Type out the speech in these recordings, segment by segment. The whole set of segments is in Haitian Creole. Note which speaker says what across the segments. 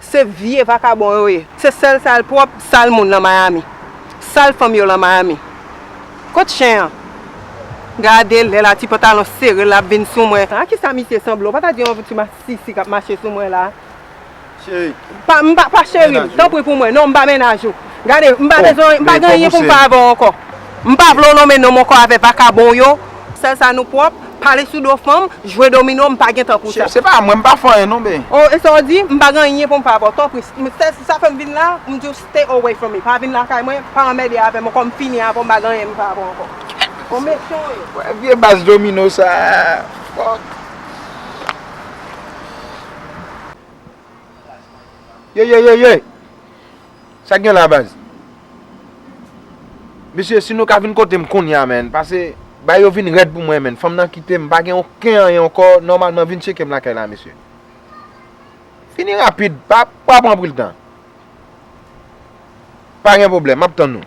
Speaker 1: Se vye vakabon yo ye. Se sel sal prop sal moun lan miami sal fanm yo lan miami kot chen an gade lè la ti pantalon sere lap vin sou mwen. A kisa misye sanble ou pa ta di yon ti masisi kap mache sou mwen la.
Speaker 2: Cheri. M pa
Speaker 1: cheri m tanpri pou mwen non m pa mennaj ou gade m pa bezwen m pa gen anyen pou m fè avèw ankò. M pa vle w lonmen nonm ankò avè vakabon w yo. Sèl sa nou pwòp, pale sou do fanm, jwe domino, m pa gen tan pou sa. Se pa mwen, m pa fè anyen
Speaker 2: non bey. Oh e sa w di? M pa
Speaker 1: gen anyen pou m fè avè w. Tanpri, sèl si sa fè m vin la, m di w stay away from me. Pa vin lakay mwen, pa anmède avè m ankò, m fini avè w, m pa gen anyen pou m fè avè w ankò. Ou mechan
Speaker 2: w ye. Wè vye bas domino sa a, fuck. Yeyeyeyey! Sak gen la baz. Mesye si nou ka vin kotem kounya man pase bagay yo vin rèd pou mwen man fanm nan kitem m pa gen oken anyen ankò nòmalman vin tchekem lakay la mesye fini rapid pa pran anpil tan pa gen pwoblèm map tann nou.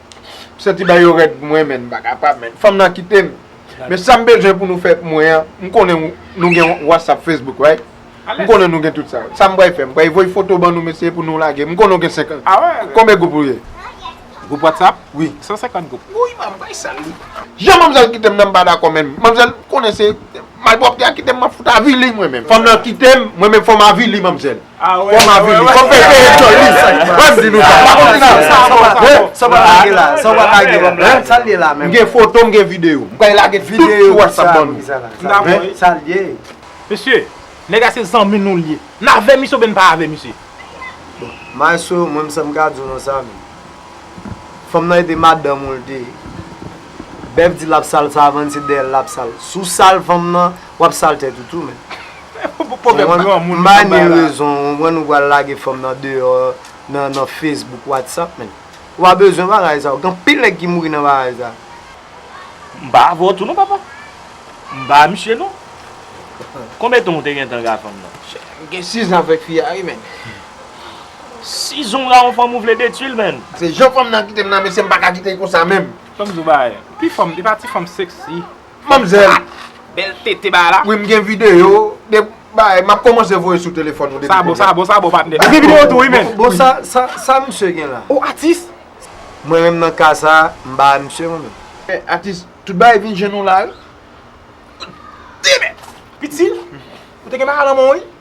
Speaker 2: M santi bagay yo rèd pou mwen men m pa kapab men. Fanm nan kite m. Men sa m bezwen pou nou fè pou mwen an, m konnen nou gen whatsapp, facebook right? M konnen nou gen tout sa. Sa m pral fè, m pral voye foto ban nou mesye pou nou lage. M konnen w gen 50 gwoup. Konbe gwoup ou
Speaker 3: ye?
Speaker 2: Gwoup whatsapp?
Speaker 3: Wi. 150 gwoup.
Speaker 2: Wouyy
Speaker 3: man m bay sal
Speaker 2: li. Jan manmzèl kite m nan m pa dakò menm. Manmzèl konnen se malpwòpte a kite m m ap fout avili mwen menm. Fanm nan kite m, mwen menm fò m avili manmzèl. Kòm avili,
Speaker 3: kòm fèy peye
Speaker 2: djòl li Wèm di nou sa, pa konn fina l sa Sa w pa lage
Speaker 4: la, sa w pa lage la menm Sa l ye la menm M gen foto, m gen videyo
Speaker 2: M pral lage tout sou whatsapp ban nou M dakò wi Sa l
Speaker 4: ye
Speaker 3: Mesye, nèg a se zanmi nou l ye N
Speaker 4: avè
Speaker 3: misye oubyen n pa avè misye Bon, maestro
Speaker 4: mwen m sa m ka di w nan sa menm Fanm nan ete madanm ou l te ye Bèf di l ap sal savann se dèyè l l ap sal Sou sal fanm nan, w ap sal tèt ou tou menm Mani rezon ou wè nou pral lage fanm nan deyò nan Facebook WhatsApp men ou pa bezwen bagay sa yo gen anpil nèg ki mouri nan bagay sa.
Speaker 5: M pa avè w tou non papa. M pa misye non. Konbyen tan ou te gentan gen ak fanm nan? M gen 6 ans
Speaker 2: avèk fi a wi menn.
Speaker 5: 6 ans ou gen ak yon fanm ou vle detui l menn. Se jan fanm nan kite m
Speaker 2: nan mesye m paka kite l konsa menm. Fòm di w bagay.
Speaker 3: Li pa ti fanm sexy. Manmzèl.
Speaker 2: Bèl
Speaker 3: tete bagay la. Wi m gen video
Speaker 2: de bagay map komanse voye sou telefòn ou depi kounya. Sa bon sa bon
Speaker 3: patnè. M gen video tou wi menn. Bon sa
Speaker 4: misye gen la. Ou atis.
Speaker 3: Mwen menm nan
Speaker 4: ka sa m ba a misye mwen menm. Atis tout bagay
Speaker 2: vin jwenn ou la wi.
Speaker 3: Ou te gen bagay nan men w wi.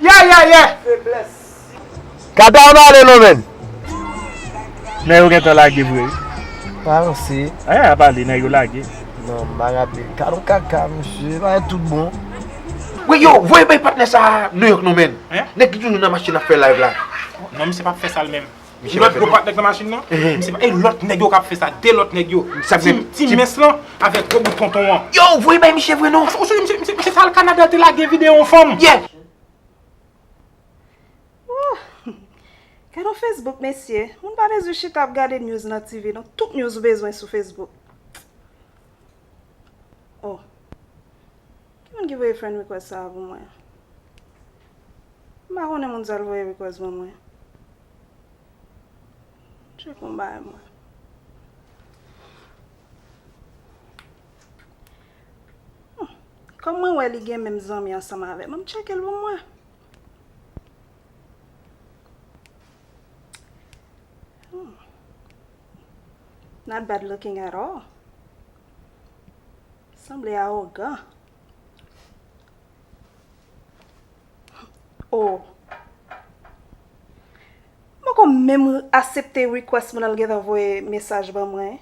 Speaker 5: Yayayay feblès.
Speaker 4: Kata an ale non menn.
Speaker 5: Nèg yo gentan lage vre wi. Pa ranse.
Speaker 4: Aya ap ale nèg yo
Speaker 5: lage. Non ma rate
Speaker 4: kado kaka mesye e bagay tout bon. Wey yo
Speaker 2: voye bay patnè sa a New York non menn. Nèg ki toujou nan machin ap fè live la. Non misye pap fè
Speaker 3: sal menm. Lòt gwo pat nèg
Speaker 2: nan machin nan?
Speaker 3: M se pa e lòt nèg yo k ap fè sa, 2 lòt nèg yo. Ti mens
Speaker 2: lan
Speaker 3: avèk gwo bout tonton an. Yow, voye bay miche
Speaker 2: vre non. Ou sonje misye t al Canada
Speaker 3: te lage video yon fanm?
Speaker 2: Yeah!
Speaker 6: Ooh! Gadon Facebook mesye, moun pa bezwen chita ap gade news nan TV non, tout news ou bezwen sou Facebook. Oh ki moun ki voye friend request sa a pou mwen? M pa konnen moun sa l voye request ban mwen. M tcheke yon bagay mwen. Humm kòm mwen wè li gen menm zanmi ansanm avè m an m tcheke l pou mwen. Not bad looking at all. Sanble arogan. Oh. Mwen kon menm asepte request moun al gentan voye mesaj ban mwen.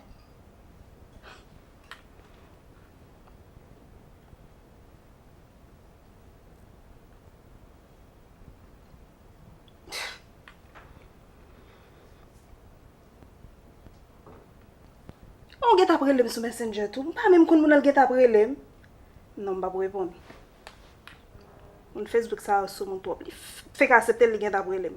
Speaker 6: An ou gen tap relem sou messenger tou? M pa menm konn moun nan l gen tap relem. Non m pap reponn. Moun Facebook sa yo soumoun twòp. Li fenk asepte l li gen tap relem.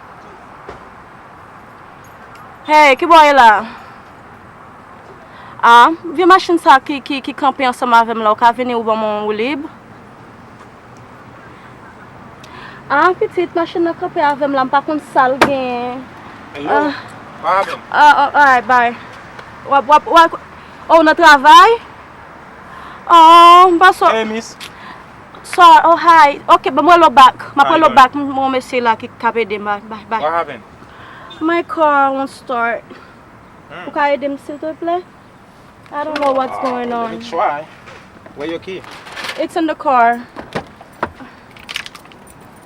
Speaker 6: Hey, ki bò w ye la? Ah, vye machin sa ki, ki, ki kanpe ansanm avè m la, ou ka vini ou ban mwen yon woulib? Ah, pitit, machin nan kanpe avè m la, m pa konn sa l genyen.
Speaker 3: Hello, pa avè m. Ah, ah, alright, bye.
Speaker 6: W ap, w ap, w ap, oh, w nan travay? Oh, m pa sò. Hey, miss.
Speaker 3: Sorry
Speaker 6: oh hi ok m rele w back map rele w back m gen yon mesye la ki kap ede m bye bye What happen?
Speaker 3: My
Speaker 6: car won't start Ou ka ede m silteplè I don't know what's going on Let me try
Speaker 3: Where your key? It's in the car.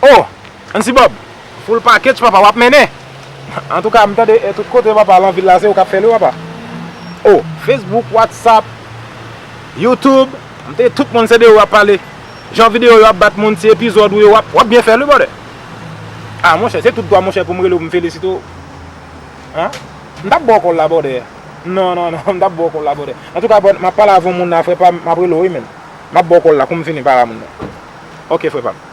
Speaker 3: Oh! Ansi Bob! Full package papa wap mennen! Antouka m tande tout kote papa lan vil la se ou kap fèl wi papa! Oh! Facebook, WhatsApp, YouTube m tande tout moun se de ou yap pale! Jan video yo ap bat moun ti epizòd ou yo wap wap byen fèl wi brother! Ah monchè se tout dwa monchè poum rele w m felisite w anh! M tap ba w kòl la brother! Non non non m tap ba w kòl la brother! Antouka brother map pale avon moun la frè pam map rele w wi menn! Map ba w kòl la koum fini para moun nan! Ok frè pam!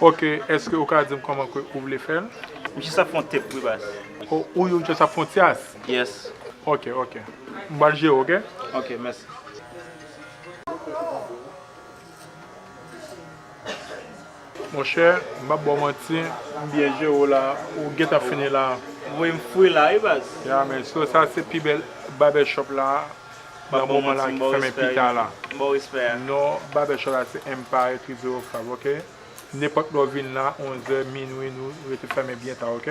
Speaker 3: Ok eske ou ka dim koman ke ou vle fel. Misye sa fon tep
Speaker 5: wi baz. Oh ou yo just ap
Speaker 3: fon tyas. Yes.
Speaker 5: Ok ok
Speaker 3: m pral jere ok. Ok mèsi. Monchè m pap baw manti m byen jere w la ou gentan fini la. M voye
Speaker 5: m fri la wi baz. Ya men so sa se
Speaker 3: pi bèl babè shop la nan moman la ki fèmen pita la. M baw respè a. Non
Speaker 5: babè shop la
Speaker 3: se Empire Triomphe ok. Nenpòt lè w vin la 11 è minwi nou rete fèmen byen ta ok.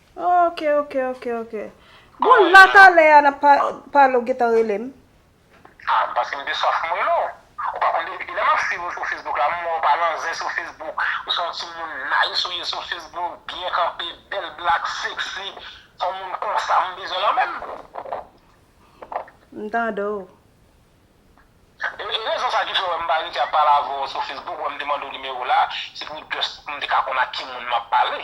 Speaker 6: Ok ok ok ok Bon la talè a nap pale ou gentan rele m. Ah m
Speaker 7: panse m te sof m rele w. Ou pa konn depi kilè map swiv ou sou Facebook la m wè w pa nan zen sou Facebook ou se yon timoun nice ou ye sou Facebook byen kanpe bèl black sexy se yon moun konsa m bezwen lan men m
Speaker 6: tande
Speaker 7: w. E rezon sa ki fè w wè m pa rete ap pale avè w sou Facebook wè m te mande w nimewo w la se pou just pou m te ka konn ak ki moun map pale.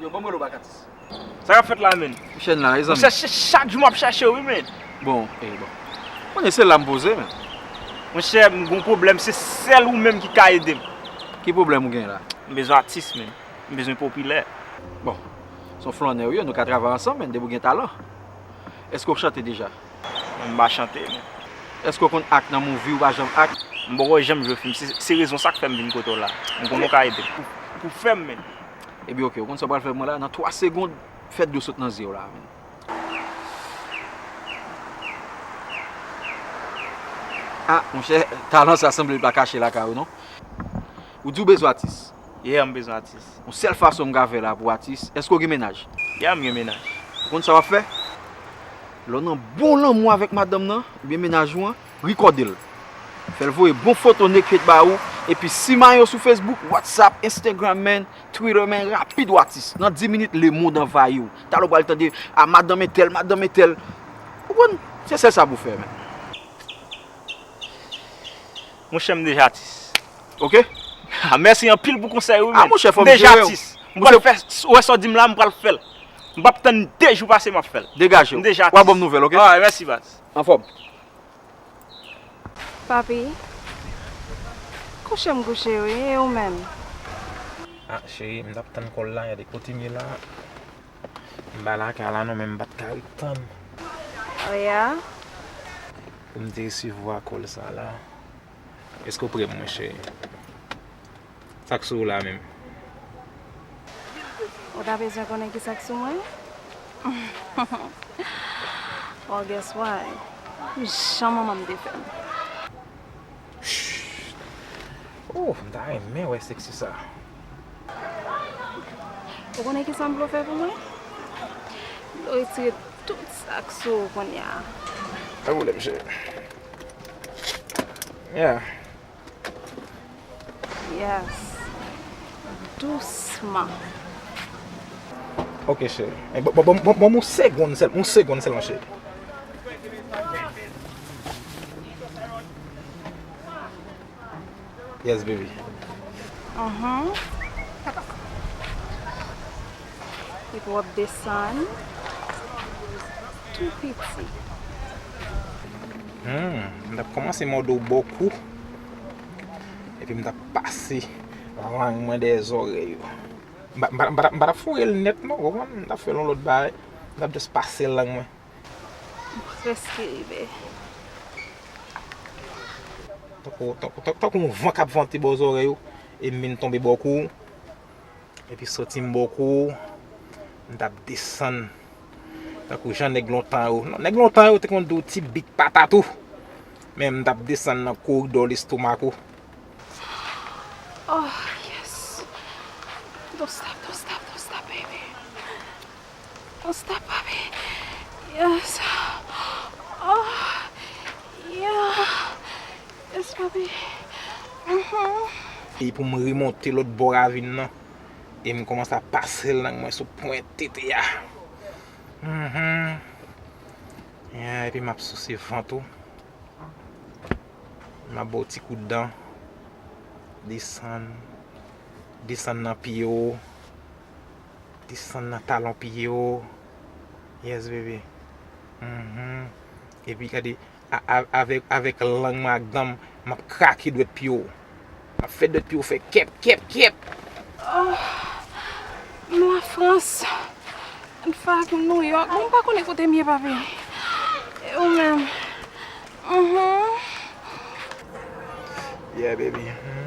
Speaker 8: Yo banm relo bak atis. Sa kap fèt la
Speaker 5: menn? Ki chèn la mezanmi? Monchè
Speaker 8: se chak jou map chachew
Speaker 5: wi menn. Bon
Speaker 8: e
Speaker 5: bon. Kounye se
Speaker 8: lam poze
Speaker 5: menn.
Speaker 8: Monchè
Speaker 5: m gon pwoblèm se sèl ou menm ki ka edem. Ki pwoblèm ou
Speaker 8: gen la? M bezwen atis menn.
Speaker 5: M bezwen popilè. Bon.
Speaker 8: Son flannè ou ye nou ka travay ansanm menn depi ou gen talan. Eske ou chante deja? M pa chante
Speaker 5: menn. Eske ou
Speaker 8: konn act nan movie ou pa janm act? M poko janm jwe fim
Speaker 5: se rezon sak fèm vin kote w la. M konnen ou ka edem. Pou fèm menn. Ebyen ok, ou konn
Speaker 8: sa w pral fè pou mwen la? Nan 3 segond, fè dlo sot nan zye w la menn. A, monchè, talan sa sanble li pa kache lakay ou non. Ou di ou bezwen atis? Yeah, m bezwen atis.
Speaker 5: Yon sèl fason m ka fè
Speaker 8: la pou atis, èske w gen mennaj? Yeah, m gen mennaj.
Speaker 5: Ou konn sa w ap fè?
Speaker 8: Lè w nan bon lanmou avèk madanm nan, oubyen mennaj ou an. Rikòde l. Fè l voye bon foto Nekfeu t ba ou epi simayen yo sou Facebook, WhatsApp, Instagram man, Twitter man rapid w atis. Nan 10 minit lemond anvayi w. Talè w pral tande a madanm entèl, madanm entèl. Ou konprann? Se sèl sa pou w fè man.
Speaker 5: Monchè m deja atis. Ok?
Speaker 8: Ah mèsi
Speaker 5: anpil pou konsèy ou wi man. Monchè fò m jere
Speaker 8: w. M pral
Speaker 5: fè, ou wè sa w di m la m pral fè l. M pap tann 2 jou pase m ap fè l. Degaje w. M deja atis. Wa ban m
Speaker 8: nouvèl ok?
Speaker 5: Alright
Speaker 8: mèsi baz.
Speaker 5: Anfòm.
Speaker 6: Papi. Kouche m gou cheri e ou menm. A
Speaker 3: cheri m tap tann kòl la gade kotem ye la m ba lakay la non men m pat ka ret tann. Ou
Speaker 6: ye a.
Speaker 3: Pou m te resevwa kòl sa la. Eske ou prè mwen cheri. Sak sou ou la menm?
Speaker 6: Ou ta bezwen konnen ki sak sou mwen? Bon guess what? Jan manmanm te fèm. Shhh
Speaker 3: ooh m ta renmen wè sexy sa.
Speaker 6: Ou konnen kisa m vle w fè pou mwen? M vle w retire tout sak sou ou kounya. Pa
Speaker 3: pwoblèm cheri. Yeah.
Speaker 6: Yes Dousman Ok
Speaker 3: cheri Banm yon segond sèlman Yon segond sèlman cheri Yes baby Ahh
Speaker 6: Epi wap desann tou piti.
Speaker 3: Humm m tap komanse mòde w bò kou epi m tap pase lang mwen dèyè zòrèy ou. M pa tap foure l nèt non, ou konprann, m tap fè l yon lòt bagay, m tap just pase lang mwen. M
Speaker 6: prèske rive.
Speaker 3: Tankou yon van kap vante bò zòrèy ou e m vin tonbe bò kou. Epi soti m bò kou ou, m t ap desann tankou jan nèg lontan yo. Non, nèg lontan yo te konn di w ti bit patat ou. Men m t ap desann nan koridò lestomak ou.
Speaker 6: Ohh, yes! Don't stop, don't stop, don't stop, baby. Ou stop papi yes oh yeah yes papi uhmm.
Speaker 3: E pou m remonte lòt bò ravin nan e m kòmanse ap pase lang mwen sou pwent tete a uhmm yeah epi m ap souse vant ou m ap ba w ti kout dan desann desann nan pye w. Desann nan talon pye w. Yes baby. Uhmm. Epi gade avèk lang mwen ak dan m m ap krake dwèt pye w. M ap fè dwèt pye w fè kèp kèp kèp. Ohh.
Speaker 6: M la Frans. An fè ak m New York. Mwen pa konnen kote m ye papi. E ou menm? Uhmm.
Speaker 3: Yeah baby. Uhmm.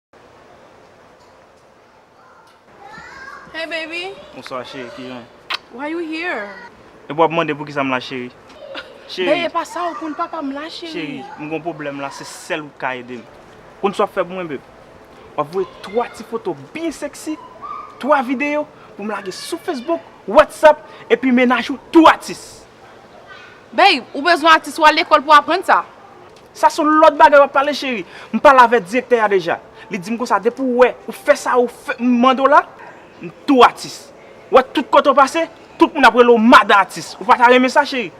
Speaker 9: Hey baby. Bonswa
Speaker 5: cheri, kijan ou? Why you here? Epi wap mande poukisa m la cheri? Bby epa sa ou konn
Speaker 1: papa m la cheri. Cheri, m gon pwoblèm
Speaker 5: la se sèl ou k ka ede m. Konn sa wap fè pou mwen beb? Wap voye 3 ti foto byen sexy, 3 videyo pou m lage sou Facebook, WhatsApp epi mennaj ou tou atis. Bby
Speaker 1: ou bezwen atis wal lekòl pou aprann sa? Sa son lòt
Speaker 5: bagay wap pale cheri. M pale avè direktè a deja. Li dim konsa depi w wè ou fè sa ou mande w la, m tou atis. Ou wè tout kote w pase, tout moun ap rele w madan atis. Ou pa ta renmen sa cheri?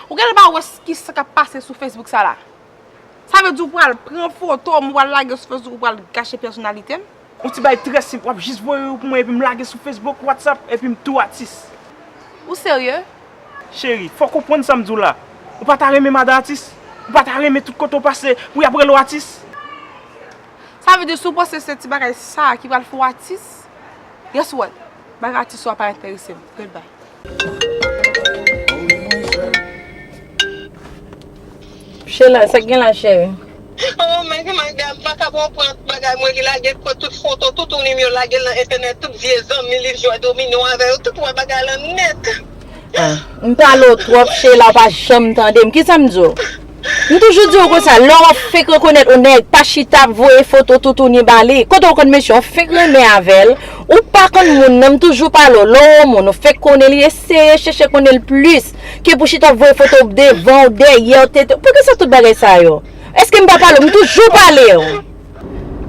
Speaker 5: Ou genlè pa
Speaker 1: wè kisa kap pase sou Facebook sa la? Sa vle di ou pral pran foto m ou pral lage sou Facebook ou pral gache pèsonalite m? Yon ti bagay trè
Speaker 5: senp wap jis voye yo pou mwen epi m lage sou Facebook, WhatsApp epi m tou atis. Ou serye?
Speaker 1: Cheri, fòw
Speaker 5: konprann sam diw la. Ou pa ta renmen madan atis? Ou pa ta renmen tout kote ou pase pou yap rele w atis?
Speaker 1: Sa vle di si w panse se ti bagay sa ki pral fè w atis, guess what? Bay atis ou a pa enterese m. Good bye.
Speaker 10: Shella, sa k gen la cheri? Oh my god
Speaker 11: my god, m pa kab wè w pran tout bagay mwen li lage pran tout foto tout ou li m yo lagel nan entènèt tout vye zanmi li jwè domino avè yo tout wè bagay lan nèt. Ah m
Speaker 10: pale w twòp Sheila w pa janm tande m kisa m di w? M toujou di w konsa lè w ap fenk rekonèt on nèg pa chita ap voye foto toutouni ba li kote w konn mesye w fenk renmen avè l ou pa konn moun nan m toujou pale w lè w on moun ou fenk konnen li eseye chèche konnen l plis ke pou chita ap voye foto w devan w dèyè w tete w poukisa tout bagay sa yo? Eske m pa pale w m toujou pale w.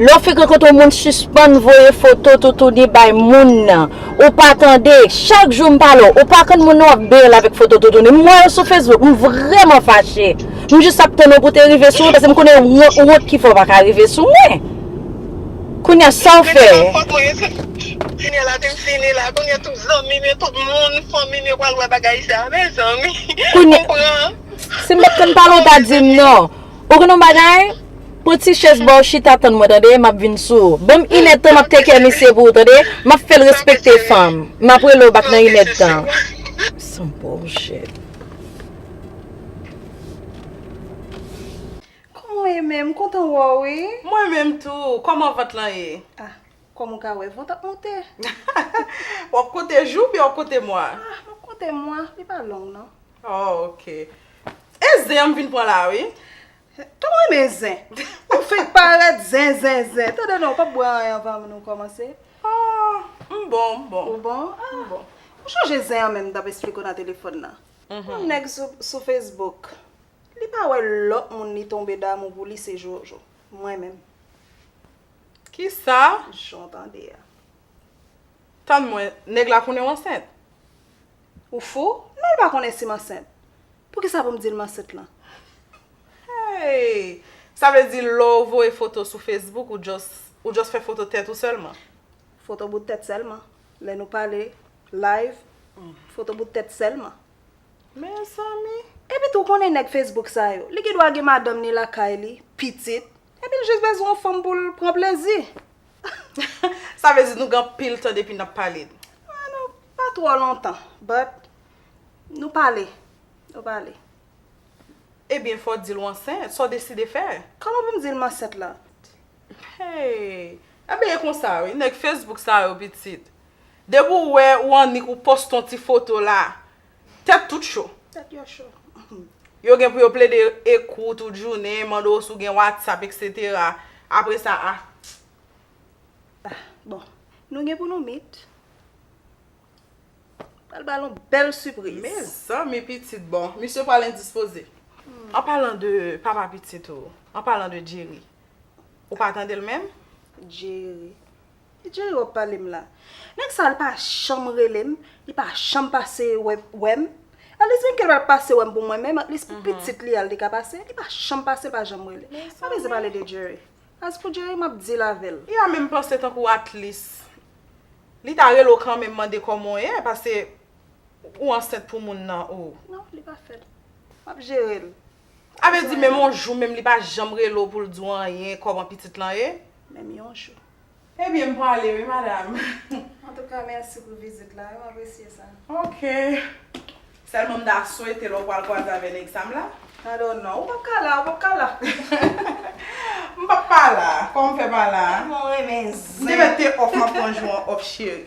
Speaker 10: Lè w fenk rankontre yon moun sispann voye foto toutouni bay moun nan ou pa tande, chak jou m pale w ou pa konn moun nan w ap bel avèk foto toutouni m wè yo sou Facebook m vrèman fache m jis ap tann ou pou te rive sou mwen paske m konnen wont ki fè w pa ka rive sou mwen kounya sa w fè. Kounya
Speaker 11: la te fini la kounya tout zanmi m yo tout moun fanmi m yo pral wè bagay sa mezanmi m pran.
Speaker 10: Si m pat konn pale w pa di m non Ou konn yon bagay? Pran ti chèz ba w chita tann mwen tande, m ap vin sou ou. Ban m inèdtan m ap tekè misye pou ou tande, m ap fè l respekte fanm. M ap rele w bak nan inèdtan. Some bullshit.
Speaker 6: Kòman w ye menm? M kontan wè w wi. Mwen menm tou.
Speaker 1: Kòman vant lan ye? Ah, kòm
Speaker 6: ou ka wè, vant ap monte.
Speaker 1: W ap konte jou oubyen w ap konte mwa? Ah, m ap konte mwa.
Speaker 6: Li pa long non. Oh ok.
Speaker 1: E zen an m vin pran la wi. Tanm renmen
Speaker 6: zen. Ou fenk paret zen zen zen. Tande non ou pap bwe anyen anvan nou komanse. Oh
Speaker 1: m bon m bon. Ou bon? Ah.
Speaker 6: Ou chanje zen an menm m tap esplike w nan telefon nan. Yon neg sou Facebook li pa we lot moun li tonbe damou pou li se jojo. Mwen menm.
Speaker 1: Kisa? Jan w tande a. Tann mwen, neg la konnen w ansent?
Speaker 6: Ou fou? Non l pa konnen si m ansent. Poukisa pou m di l m ansent lan? Hey!
Speaker 1: Sa vle di lè w voye foto sou Facebook ou just ou just fè foto tèt ou sèlman? Foto bout
Speaker 6: tèt sèlman. Lè nou pale live, foto bout tèt sèlman.
Speaker 1: Mezanmi! Epi tou w konnen
Speaker 6: nèg Facebook sa yo, li gen dwa gen madanm ni lakay li, pitit, epi l just bezwen yon fanm pou l pran plezi.
Speaker 1: Sa vle di nou gen anpil tan depi nap pale. Ah non
Speaker 6: pa twò lontan but nou pale nou pale.
Speaker 1: Ebyen fò dil w ansent, sa w deside fè? Kòman pou m di l m ansent
Speaker 6: la?
Speaker 1: Hey Ebyen e konsa wi nèg Facebook sa yo pitit. Depi w wè ou annik ou poste yon ti foto la Tèt tout cho. Tèt yo cho.
Speaker 6: Yo gen
Speaker 1: pou yo plede ekri w tout jounen, mande w si w gen whatsapp etc. Apre sa a. Ah
Speaker 6: bon. Nou gen pou nou meet. Pral ba l yon bèl sipriz. Mezanmi
Speaker 1: pitit bon. Misye pral endispoze. An palan de papa pitit ou. An palan de Jerry. Ou pa tande l menm? Jerry.
Speaker 6: Ki Jay wap pale m la? Nèg sa li pa janm rele m, li pa janm pase wè m. At least menm ke l pa t pase wè m pou mwen menm, at least pou pitit li a l te ka pase. Li pa janm pase, li pa janm rele. M pa beze pale de Jerry. As pou Jerry m ap deal avè l. Iya menm panse tankou
Speaker 1: at least li ta rele w kanmenm mande kòman w ye pase ou ansent pou moun nan oo. Non li pa fè l.
Speaker 6: M ap jere l. Sa vle di
Speaker 1: menm yon jou menm li pa janm rele w pou l di w anyen kòman pitit lan ye? Menm yon jou.
Speaker 6: Ebyen m pwale
Speaker 1: wi madam. Antouka
Speaker 6: mèsi pou vizit la yo apresye sa. Ok.
Speaker 1: Sèlman m ta swete lè w pwal kwaze avè nèg sa m la. I don't know. Ou pap
Speaker 6: ka la, ou pap ka la.
Speaker 1: M pap pa la. Kòman m fè pa la? Tèlman w renmen
Speaker 6: zen. M te mèt te off m ap
Speaker 1: pran jou an off cheri.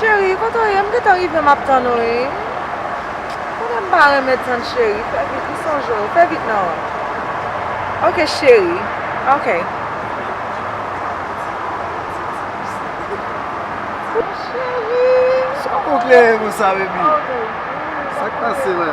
Speaker 1: Cheri kote w ye m gentan rive map tann ou wi Kote m pa renmen tann cheri fè vit m sonje w fè vit nan Ok cheri ok
Speaker 4: Cheri Sa w kokleye konsa baby Sak pase la.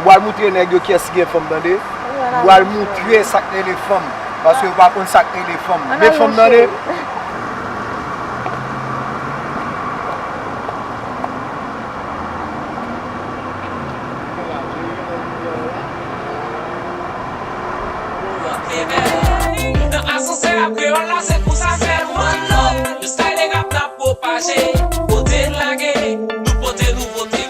Speaker 4: M pral moutre nèg yo kiyès ki gen fanm tande M pral moutre sak rele fanm Paske yo pa konn sak rele fanm Met fanm tande.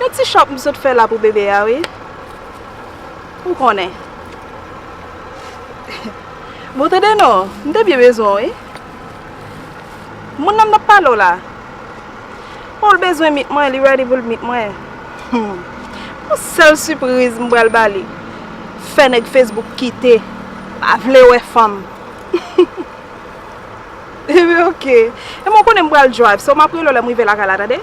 Speaker 1: Yon ti shop m sot fè la pou bebe a wi ou konnen bon tande non m te byen bezwen w wi moun nan m tap pale w la bon l bezwen mit mwen li ready pou l mit mwen humm yon sèl sipriz m pral ba li fè nèg facebook kite pa vle wè fanm humm ebyen ok ebyen w konnen m pral drive so m ap rele w lè m rive lakay la tande.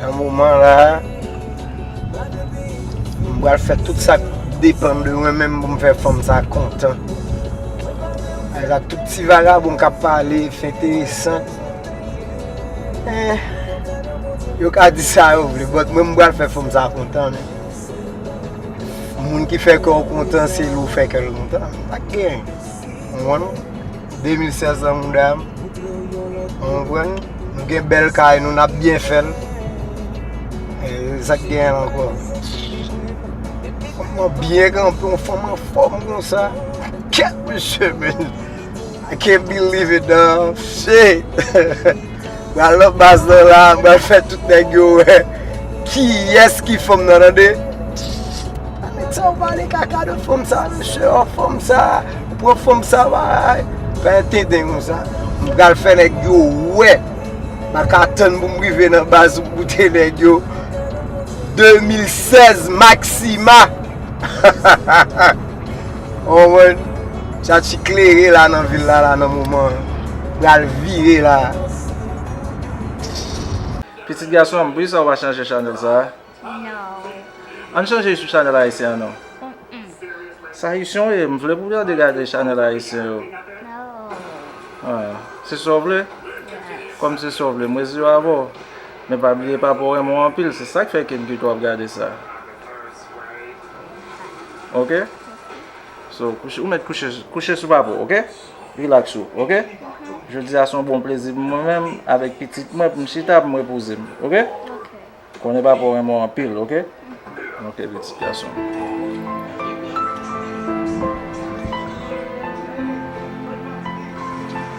Speaker 4: Nan moman la a, m pral fè tout sa k depann de mwen menm pou m fè fanm sa a kontan. Avèk ak tout ti vagabon k ap pale, fè enteresan. Men, yo ka di sa yo vle, bòt mwen m pral fè fanm sa a kontan men. Moun ki fè kè w kontan se li ou fè kè l kontan. M pa gen, ou konprann? 2500 nan mouda m. Ou konprann? Nou gen bèl kay nou, n ap byen fè l. E sa k gen ankò? Fanm lan byen kanpe, yon fanm anfòm konsa. Kèt mesye men! I can't believe it daww! Shit! Pral nan baz nan la, m pral fè tout nèg yo wè kiyès ki fòm nan tande. Anmèt sa ou pale kaka de fòm sa mesye oh fòm sa ou pran fòm sa baay. Fè yon tenten kon sa. M pral fè nèg yo wè. M pa ka tann pou m rive nan baz pou m goute nèg yo. 2016 maxima. Konprann? Sa ki klere la nan vil la la nan moman an, pral vire la.
Speaker 3: Pitit gason an, poukisa ou pa chanje chanèl sa a?
Speaker 9: An
Speaker 3: nou chanje sou chanèl ayisyen an non. Sa isyon ye, m vle pou w gade gade chanèl ayisyen yo. Se sa w vle? Kòm se sa w vle, m resi avè w. Men pa bliye papa w renmen w anpil, se sa k fè ke l di w ap gade sa. Ok So kouche ou met kouche kouche sou papo ok Relax ou ok Jodi a son bon plezi pou mwen menm avèk pitit mwen pou m chita pou m repoze m ok Konnen papaw renmen w anpil ok Ok pitit gason m.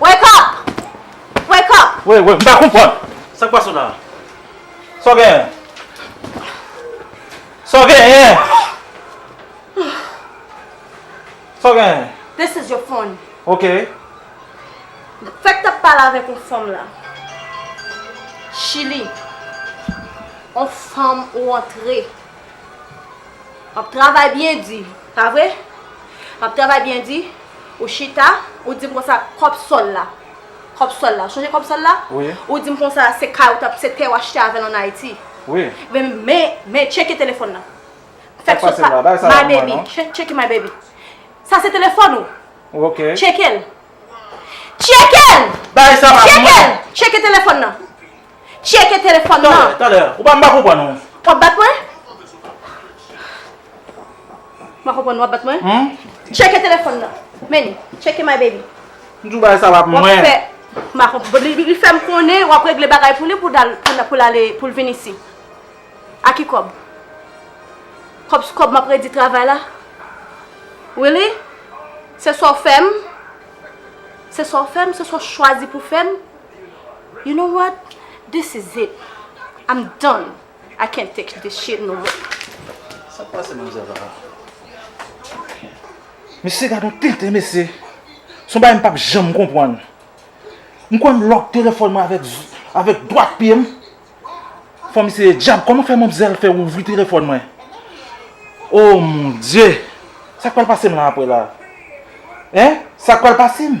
Speaker 10: Wake up! Wake up! Woy woy, m pa konprann!
Speaker 5: Sa k pase w la? Sa w genyen? Sa w genyen? Sa w genyen? This is your phone.
Speaker 10: Ok. Fèk t ap pale avèk yon fanm la. Chili. Yon fanm ou antre. M ap travay byen di. Pa vre? M ap travay byen di. Ou chita, ou di m konsa, kòb sòl la, kòb sòl la, ou sonje kòb sòl la? Wi. Ou di m konsa,
Speaker 3: se
Speaker 10: kay ou t ap, se tè ou achte avè l ann Ayiti. Wi. Men,
Speaker 3: men, men,
Speaker 10: tcheke telefòn nan. Sa k pase la?
Speaker 3: Bay sa la pou mwen non. My baby,
Speaker 10: tcheke my baby. Sa se telefòn ou? Ok. Tcheke l. Tcheke l! Bay sa la pou mwen. Tcheke l! Tcheke telefòn nan. Tcheke telefòn nan! Talè, talè! Ou pa m pa konprann
Speaker 5: ou! W ap bat mwen?
Speaker 10: M pa konprann ou, w ap bat mwen? Tcheke telefòn nan! Menn, tcheke my baby! M di w bagay sa pa
Speaker 5: pou mwen! M pa konprann.
Speaker 10: Li fè m konnen w ap regle bagay pou li pou l ale, pou l vin isi. A ki kòb? Kòb sou kòb m ap redi travay la? Really? Se sa w fè m? Se
Speaker 12: sa w fè m? Se sa w chwazi pou w fè m? You know what this is it I'm done I can't take this shit no more. Sak pase
Speaker 8: manmzèl vava.
Speaker 5: Mesye gadon tenten mesye. Son bagay m pap janm konpwann. M kwè m lòk telefòn mwen avèk avèk dwat pye m. Fò m eseye djab kòman fè manmzèl fè ouvri telefòn mwen. Oh mon Dieu! Sak pral pase m la aprè la? Hein? Sak pral pase m?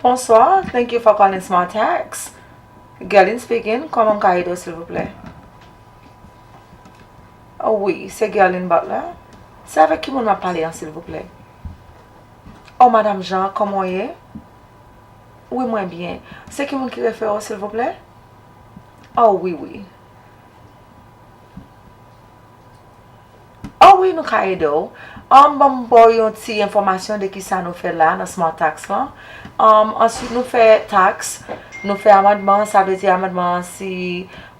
Speaker 10: Bonsoir, thank you for calling Smart Tax. Gerline speaking, koman m ka ede w silvouplè? Oh oui, se Gerline Butler. Se avèk ki moun m ap pale an silvouplè? Oh madame Jean, koman w ye? Wi mwen byen. Se ki moun ki refere w silvouplè? Oh wi wi. Oh wi nou ka ede w. An ban m ba w yon ti enfòmasyon de kisa nou fè la nan Smart Tax lan. Answit nou fè tax, nou fè amandman, sa vle di amandman an si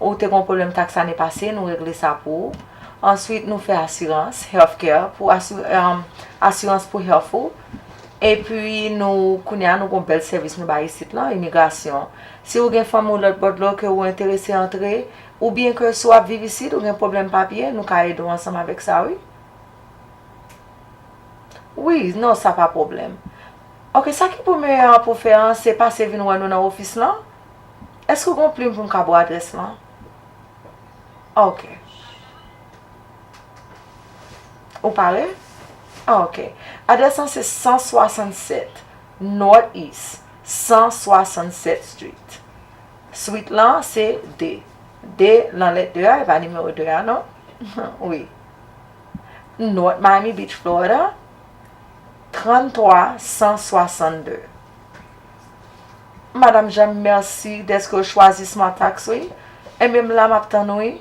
Speaker 10: ou te gon pwoblèm tax ane pase nou regle sa pou ou. Answit nou fè asirans, healthcare, asirans pou health ou. Epi nou kounye a nou gon bèl sèvis nou bay isit lan, imigrasyon. Si ou gen fanmi ou lòt bò dlo ke ou enterese antre, oubyen ke si w ap viv isit, ou gen pwoblèm papye, nou ka ede w ansanm avèk sa wi. Wi, non sa pa pwoblèm. Ok, sa ki pou meyè an pou w fè an, se pase vin wè nou nan ofis lan. Èske ou gen yon plim pou m ka ba w adrès lan? Ok. Ou pare? Ah ok. Adrès lan se 167 North East 167 Street. Suite lan se 2. 2 nan lèt 2 a, e pa nimewo 2 a non. Wi. North Miami Beach, Florida 33162. Madam Jeanne, mèsi dèske ou chwazi Smart Tax wi. Enben m la m ap tann ou wi.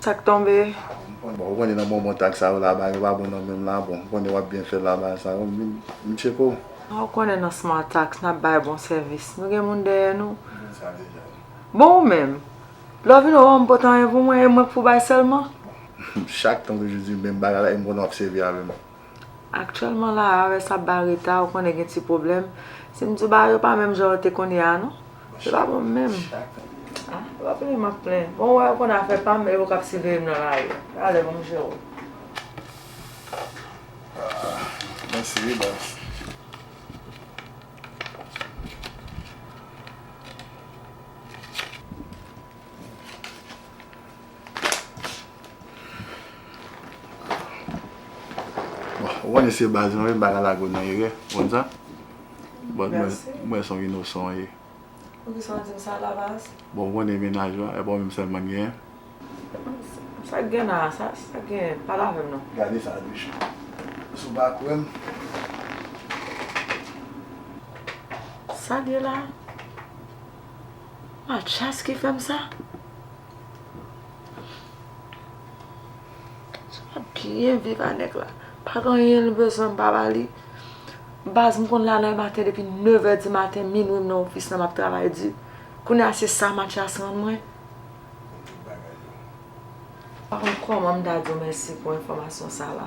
Speaker 2: Sak tonbe?
Speaker 10: Bon ou
Speaker 2: konnen nan bonbon tag sa yo laba yo pa bon nan menm la bon ou konnen wap byen fèl laba sa yo vin vin tchekol. Ah ou konnen nan smart
Speaker 10: tax nap bay bon sèvis nou gen moun dèyè nou bon ou menm lè w vin wè w an m pot anyen pou mwen e mwen k pou bay sèlman. Chak tan
Speaker 2: toujou di menm bagay la e m konnen wap sèvi avè m. Aktyèlman
Speaker 10: la a rès ap ba reta ou konnen gen ti pwoblèm. Si m di w bagay yo pa menm jan yo te konye a non. Yo pa bon menm. A, yo pa plenyen m ap plenyen. Bon ou wè yo konnen afè pa m e yo k ap siveye m nan lari. Rale banm je w.
Speaker 2: Mèsi wi baz. Ou konnen se baz mwen menm pa ka lage w nan erè, ou konn sa? But mwen se yon inosan w ye. Poukisa w di m sa la
Speaker 10: baz?
Speaker 2: Bon ou konnen
Speaker 10: mennaj
Speaker 2: ou a,
Speaker 10: e pa ou
Speaker 2: menm sèlman
Speaker 10: m
Speaker 2: genyen?
Speaker 4: Sa k gen la
Speaker 10: a? Sa k gen? Pale avè m non. Gade sa Duchy, si w pa kwè m. Sa l ye la a? Mathias ki fè m sa? Mwen byen viv a nèg la. Pa gen anyen li bezwen m pa ba li. Baz m konn la nan maten depi 9 è di maten, minwi m nan ofis la m ap travay di. Kounye a se sa Matyas rann mwen. M pa konn kòman m ta di w mèsi pou enfòmasyon sa la.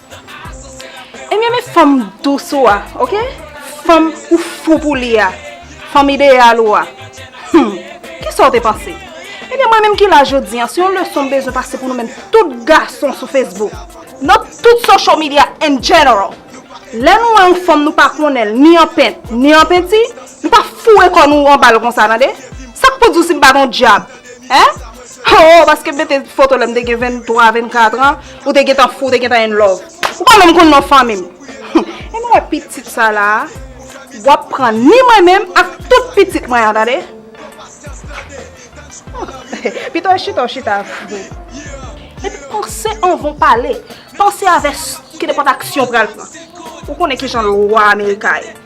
Speaker 6: Ebyen met fanm dous ou a ok fanm ou fou pou li a fanm ideyal ou a humm kisa ou te panse ebyen mwen menm ki la jodi an se yon leson m bezwen pase pou nou menm tout gason sou Facebook nan tout social media in general lè nou wè yon fanm nou pa konnen l ni an pent ni an penti nou pa foure kò nou anba l konsa tande sak pou di w si m pa t yon dyab. Hein? Hoo paske m mete foto lèm te gen 23, 24 ans ou te gentan fou ou te gentan in love. Ou pa menm konn non fanmim. Humm Em ou wè pitit sa la a? Wap pran ni mwen menm ak tout pitit mwen an tande. Humm Pito e chita ou chita vre. Epi panse anvan ou pale. Panse avè ki nenpòt aksyon ou pral pran. Ou konnen kijan lwa amerika ye.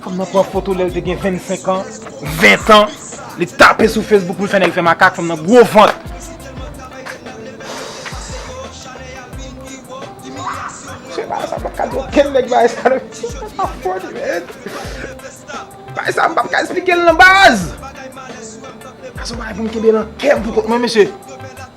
Speaker 3: Fanm nan pran foto lèl te gen 25 ans, 20 ans, li tape sou Facebook poul fè nèg fè makak, fanm nan gwo vant. Msye bay sa mpap ka di okenn nèg bay sa non msye sa pa funny man Bay sa mpap ka esplikel non baz Sa son bagay poum kenbe nan kèm pou kont mwen mesye.